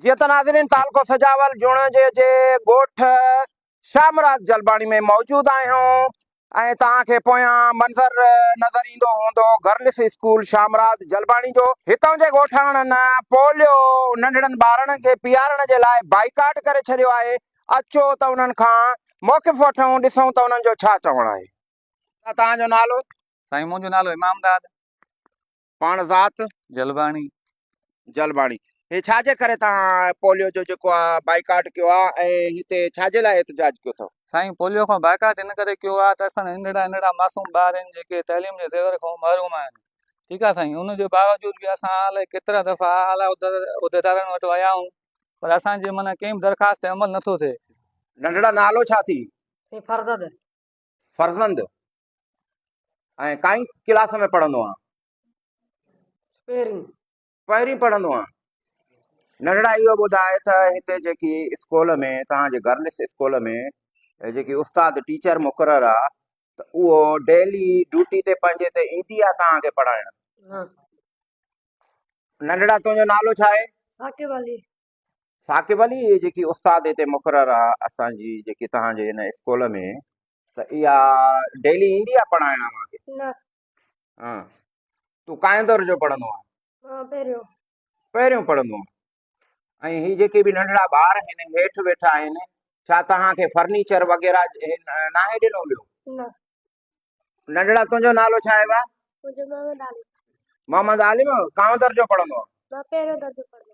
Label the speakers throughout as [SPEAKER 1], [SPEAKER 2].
[SPEAKER 1] جيئن ته ناظرين تعلقو سجاول جوڻيجي جي ڳوٺ شاهه مراد جلباڻي ۾ موجود آهيون ۽ توهان کي پويان منظر نظر ايندو هوندو گرلس اسڪول شاهه مراد جلباڻي جو هتان جي ڳوٺاڻن پوليو ننڍڙن ٻارڙن کي پيئارڻ جي لاء بائيڪاٽ ڪري ڇڏيو آهي اچو ته انهن کان موقف وٺون ڏسون ته انهن جو ڇا چوڻ آهي. ڇا توهان جو نالو؟ سائين منهنجو نالو
[SPEAKER 2] امام داد.
[SPEAKER 1] پاڻ ذات؟ جلباڻي.
[SPEAKER 2] جلباڻي
[SPEAKER 1] هي ڇا جي ڪري توهان پوليو جو جيڪو آ بائيڪاٽ ڪيو آ ۽ هتي ڇا جي لاء احتجاج ڪيو ٿو؟ سائين پوليو کان
[SPEAKER 2] بائيڪاٽ ان ڪري ڪيو آ ته اسان جا ننڍڙا ننڍڙا معصوم ٻار آهن جيڪي تعليم جي زيور کان محروم آهن ٺيڪ آ سائين ان جي باوجود به اسان الائي ڪيترا دفعا اعليٰ عهديدارن وٽ ويا آهون پر اسان جي معنيٰ ڪنهن به درخواست تي عمل نٿو ٿئي. ننڍڙا نالو
[SPEAKER 1] ڇا ٿي؟ سائين فرزد.
[SPEAKER 3] فرزند
[SPEAKER 1] ۽ ڪائين ڪلاس ۾ پڙهندو آهيان. پهرين. پهرين پڙهندو آهيان. ننڍڙا اهو ٻڌاء ته هتي جيڪي اسڪول ۾ توهان جي گرلس اسڪول ۾ جيڪي استاد ٽيچر مقرر آهي ته اهو ڊيلي ڊيوٽي تي پنهنجي تي ايندي آهي توهان کي پڙهائڻ. ننڍڙا تنهنجو نالو ڇا آهي؟ ثاقب علي.
[SPEAKER 3] ثاقب
[SPEAKER 1] علي جيڪي استاد هتي مقرر آ اسان جي جيڪي توهان جي هن اسڪول ۾ ته اها ڊيلي ايندي آ پڙهائڻ اوهان کي نه ها تون ڪائين دور جو پڙهندو آ ها پهريون پهريون پڙهندو آ ۽ هي جيڪي به ننڍڙا ٻار هن هيٺ ويٺا آهن ڇا توهان کي فرنيچر وغيرا ناهي ڏنو ويو نه ننڍڙا تنهنجو نالو ڇا آهي محمد عالم محمد عالم ڪائين دور جو پڙهندو آ مان پهريون درجو پڙهندو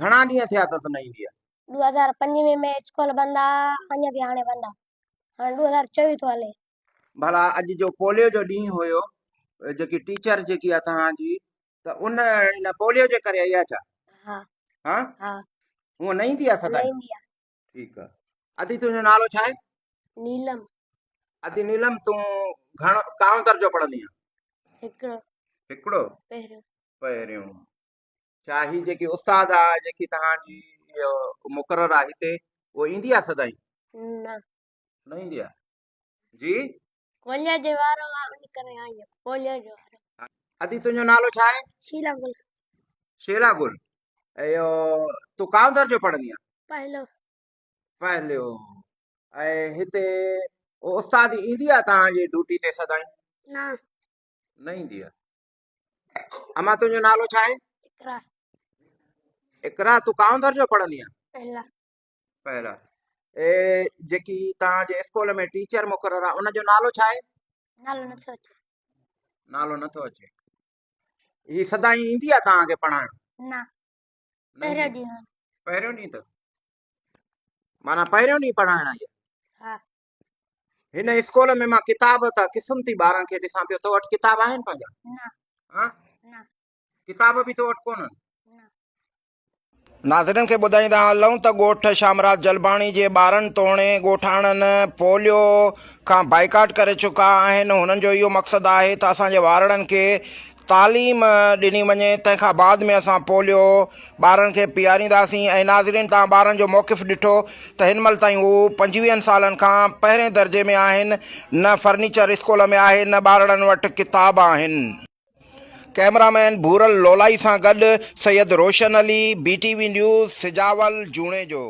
[SPEAKER 1] گهڻا ڏينهن ٿيا اٿس نه ايندي آ. ڏو هزار پنج ۾ مين
[SPEAKER 4] اسڪول بند آ اڃ به هاڻي بند آ هاڻي ڏو هزار چويهه ٿو هلي. ڀلا اڄ
[SPEAKER 1] جو پوليو جو ڏينهن هيو جيڪي ٽيچر جيڪي آ توهان جي ته ان ان پوليو جي ڪري آئي آ ڇا؟ ها ها ها هونء نه ايندي آ نه سدائين ايندي آ. ٺيڪ آ ادي تنهنجو نالو ڇا آهي؟ نيلم
[SPEAKER 4] ادي
[SPEAKER 1] نيلم تون گهڻو ڪاهون درجو پڙهندي آن؟ هڪڙو هڪڙو پهريون. پهريون ڇا هي جيڪي استاد آ جيڪي توهان جي مقرر آ هتي هو ايندي آ سدائين نه نه ايندي آ جي ڪوليا
[SPEAKER 4] جي وارو آ ان ڪري آئي ڪوليا جو ادي تنهنجو نالو
[SPEAKER 1] ڇا آهي شيلا گل
[SPEAKER 4] شيلا
[SPEAKER 1] گل ايو تو ڪاو درجو پڙهندي آ پهلو پهلو اي هتي استاد ايندي آ تان جي ڊيوٽي تي سدائين نه نه ايندي آ اما تنهنجو نالو ڇا آهي اقرا اقرا تون ڪاون درجو پڙهندي آهين پهلا پهلا اي جيڪي توهان جي اسڪول ۾ ٽيچر مقرر آهي ان جو نالو ڇا آهي نالو نٿو اچي نالو نٿو اچي هي سدائين ايندي آهي توهان کي پڙهائڻ نه پهريون ڏينهن پهريون ڏينهن اٿس مانا پهريون ڏينهن پڙهائڻ آئي آهي ها هن اسڪول ۾ مان ڪتاب ته قسمتي ٻارن کي ڏسان پيو تو وٽ ڪتاب آهن پنهنجا ها ڪتاب به تو وٽ ڪونهن ناظرين کي ٻڌائيندا هلون ته ڳوٺ شامراز جلباڻي جي ٻارن توڻي ڳوٺاڻن پوليو کان بائيڪاٽ ڪري چڪا آهن هنن جو اهو مقصد آهي ته اسان جي وارڙن کي تعليم ڏني وڃي تنهن کان بعد ۾ اسان پوليو ٻارن کي پيارينداسين ۽ ناظرين توهان ٻارن جو موقف ڏٺو ته هن مهل تائين هو پنجويهن سالن کان پهرين درجي ۾ آهن نه فرنيچر اسڪول ۾ آهي نه ٻارڙن وٽ ڪتاب آهن. ڪئميرا مين ڀورل لولائي سان گڏ Syed Roshan Ali, B T V news, Sujawal, Junejo.